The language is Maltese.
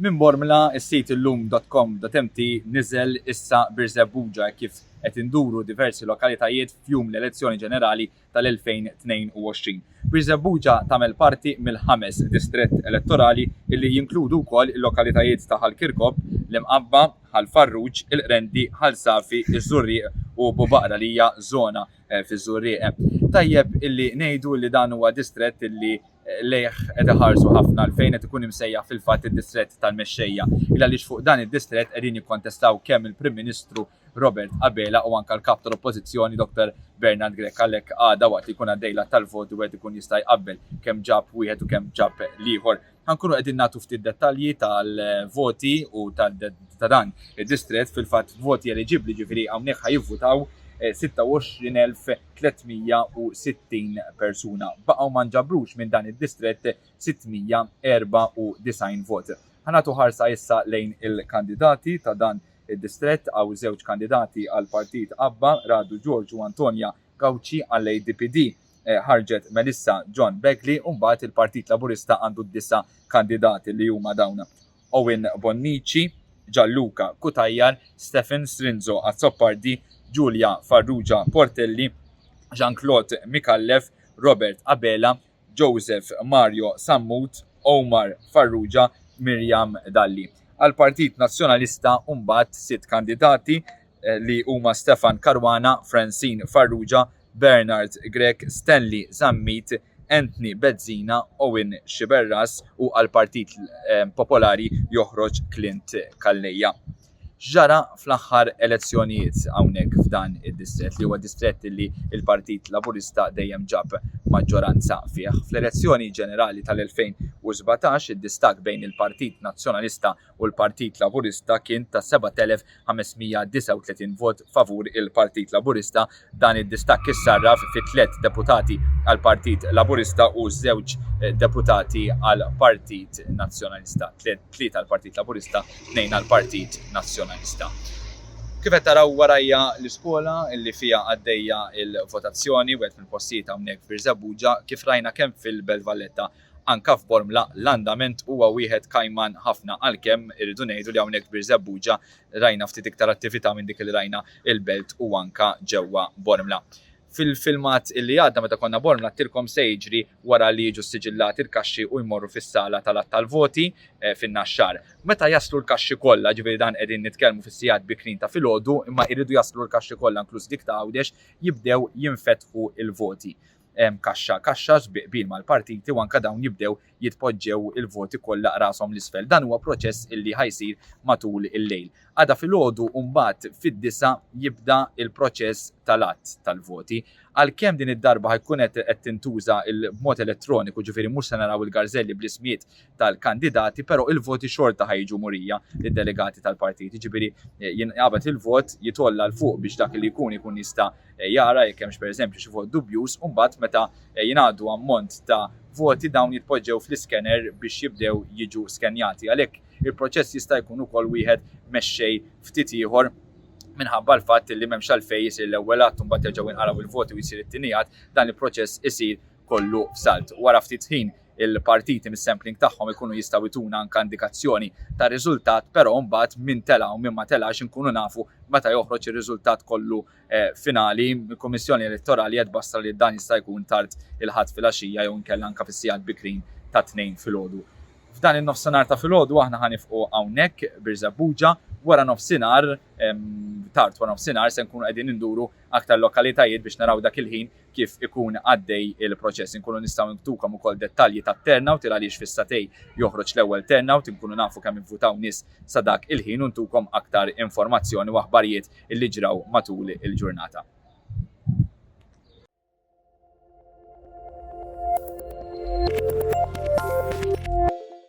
Minn Bormla, is-sit illum.com.mt niżel issa birżebbuġa kif qed induru diversi lokalitajiet f'jum l-elezzjoni ġenerali tal-2022. Birżebbuġa tagħmel parti mill-ħames distrett elettorali illi jinkludu wkoll il-lokalitajiet ta' Ħal Kirkop, l-Imqabba, Ħal Farruġ, il-Qrendi, Ħal Safi, iż-Żurrieq u Bubaqra li hija żona fiż-Żurrieq. Tajjeb illi ngħidu li dan huwa distrett illi lejh qed iħarsu ħafna għalfejn qed ikun imsejjaħ fil-fatt id-distrett tal-mexxejja. Il għaliex fuq dan id-distrett qegħdin jikkontestaw kemm il-Prim Ministru Robert Abela u anke l-Kap tal-Oppożizzjoni Dr. Bernard Grech għalhekk għada waqt li jkun għaddej l-att tal-vot wieħed ikun jista' jqabbel kemm ġab wieħed u kemm ġab l-ieħor. Ħankunu qegħdin nagħtu ftit dettalji tal-voti u ta' dan id-distrett fil-fatt voti eliġibbli ġifieri hawnhekk ħajivvutaw 26,360 eh, persuna. Baqgħu ma nġabrux minn dan id-distrett 694 vot. Ħanatu ħarsa issa lejn il-kandidati ta' dan id-distrett għaw żewġ kandidati għal partit Abba, Radu Ġorġ u Antonja Gawċi għall-ADPD. ħarġet Melissa John Begley u mbagħad il-Partit Laburista għandu disa' kandidati li huma dawn, Owen Bonnici, Gianluca Cutajar, Stephen Strinzo Azzopardi, Julia Farrugia Portelli, Jean Claude Micallef, Robert Abela, Joseph Mario Sammut, Omar Farrugia, Miriam Dalli. Għall-Partit Nazzjonalista mbagħad sitt kandidati li huma Stefan Caruana, Francine Farrugia, Bernard Grech, Stanley Zammit, Anthony Bezzina, Owen Sciberras u għall-Partit Popolari joħroġ Clint Calleja. X'ġara fl-aħħar elezzjonijiet hawnhekk f'dan id-distrett li huwa distrett li l-Partit Laburista dejjem ġab maġġoranza fih? Fl-elezzjoni ġenerali tal-2017, id-distakk bejn il-Partit Nazzjonalista u l-Partit Laburista kien ta' 7,539 vot favur il-Partit Laburista. Dan id-distakk issarraf fi tliet deputati għall-Partit Laburista u żewġ deputati għall-Partit Nazzjonalista. Tlieta għall-Partit Laburista, tnejn għall-Partit Nazzjonalista. Kif qed taraw warajja l-iskola li fiha għaddejja l-votazzjoni, wieħed mill-postijiet hawnhekk f'Birżebbuġa, kif rajna kemm fil-Belt Valletta Anke f'Bormla l-andament huwa wieħed kajman ħafna għalkemm irridu ngħidu li hawnhekk f'Birżebbuġa rajna ftit iktar attività minn dik li rajna il-Belt u anke ġewwa Bormla. Fil-filmat li għadda meta konna Bormla għedtilkom se jiġri wara li jiġu ssiġillati l-kaxxi u jmorru fis-sala tal-għadd tal-voti fin-Naxxar. Meta jaslu l-kaxxi kollha, jiġifieri dan qegħdin nitkellmu fis-sigħat bikrin ta' filgħodu imma jridu jaslu l-kaxxi kollha inkluż dik ta' Għawdex jibdew jinfetħu l-voti. kaxxa kaxxa bi qbil mal-partiti u anke dawn jibdew jitpoġġew il-voti kollha qrashom 'l isfel. Dan huwa proċess illi ħa jsir matul il-lejl. Għada filgħodu mbagħad fid-disgħa jibda l-proċess tal-għadd tal-voti. Għalkemm din id-darba ħa jkun qed tintuża b'mod elettroniku, ġifieri mhux se naraw il-garżelli bl-ismijiet tal-kandidati pero il-voti xorta ħa jiġu murija lid-delegati tal-partit. Jiġifieri eh, jinqabad il-vot jitolla l fuq biex dak li jkun ikun jista' eh, jara jekk hemmx pereżempju xi vot dubjuż u mbagħad meta eh, jingħadu ammont ta' voti dawn jitpoġġew fl-iskener biex jibdew jiġu skenjati. Għalhekk il-proċess jista' jkun ukoll wieħed mexxej ftit ieħor minħabba l-fatt li m'hemmx għalfejn isir l-ewwel att u mbagħad jerġgħu jinqalgħu il-voti u jsir it-tieni dan il-proċess isir kollu f'salt. Wara ftit ħin il-partiti mis-sampling tagħhom ikunu jistgħu jtuna anke indikazzjoni tar-riżultat, però mbagħad min tela' u min ma telax inkunu nafu meta joħroġ ir-riżultat kollu finali. Il-Kummissjoni Elettorali qed tbassra li dan jista' jkun tard il-Ħadd filgħaxija jew inkella anke fis-sigħat bikrin tat-Tnejn filgħodu. F'dan in-nofsinhar ta' filgħodu aħna ħa nifqu hawnhekk, Birżebbuġa. Wara nofsinhar, tard wara nofsinhar, se nkunu qegħdin induru aktar lokalitajiet biex naraw dak il-ħin kif ikun għaddej il-proċess. Inkunu nistgħu nktukom ukoll dettalji tat-turnout il għaliex fi Satej joħroġ l-ewwel turnout, inkunu nafu kemm ivvutaw nies sa dak il-ħin u ntukom aktar informazzjoni u aħbarijiet li ġraw matul il-ġurnata.